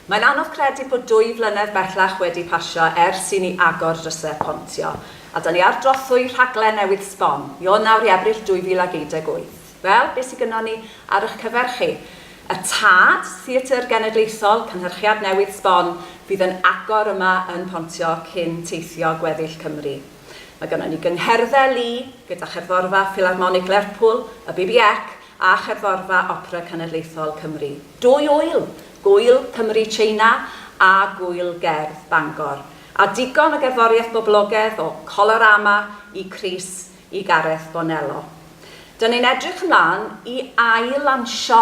Mae'n anodd credu bod dwy flynedd bellach wedi pasio ers i ni agor drysau pontio, a 'da ni ar drothwy rhaglen newydd sbon, io nawr i Ebrill 2018. Wel, be sy gynnon ni ar ych cyfer chi? Y Tad, Theatr Genedlaethol, cynhyrchiad newydd sbon, fydd yn agor yma yn Pontio cyn teithio gweddill Cymru. Mae gynnon ni gyngherddau lu gyda Cherddorfa Ffilarmonig Lerpwl, y BBEC a Cherddorfa Opera Cenedlaethol Cymru, dwy ŵyl, Gŵyl Cymru Tsieina a Gŵyl Gerdd Bangor, a digon o gerddoriaeth boblogedd o Colorama i Chris i Gareth Bonello. Dyn ni'n edrych ymlaen i ail-lansio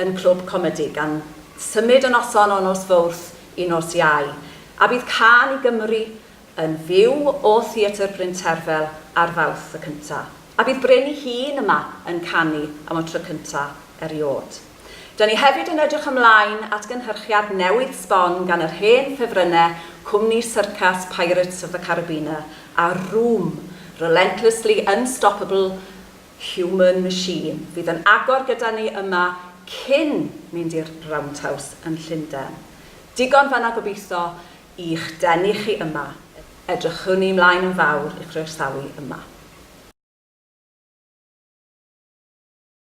yn Clwb Comedi, gan symud y noson o nos Fowrth i nos Iau, a bydd cân i Gymru yn fyw o Theatr Bryn Terfel ar Fawrth y cynta, a bydd Bryn ei hun yma yn canu am y tro cynta eriôd. Da ni hefyd yn edrych ymlaen at gynhyrchiad newydd sbon gan yr hen ffefrynnau cwmni syrcas Pirates of the Carabina a Room, Relentlessly Unstoppable Human Machine, fydd yn agor gyda ni yma cyn mynd i'r Roundhouse yn Llunden. Digon fan'na gobeitho, i'ch denu chi yma, edrychwn i ymlaen yn fawr i'ch croesawu yma.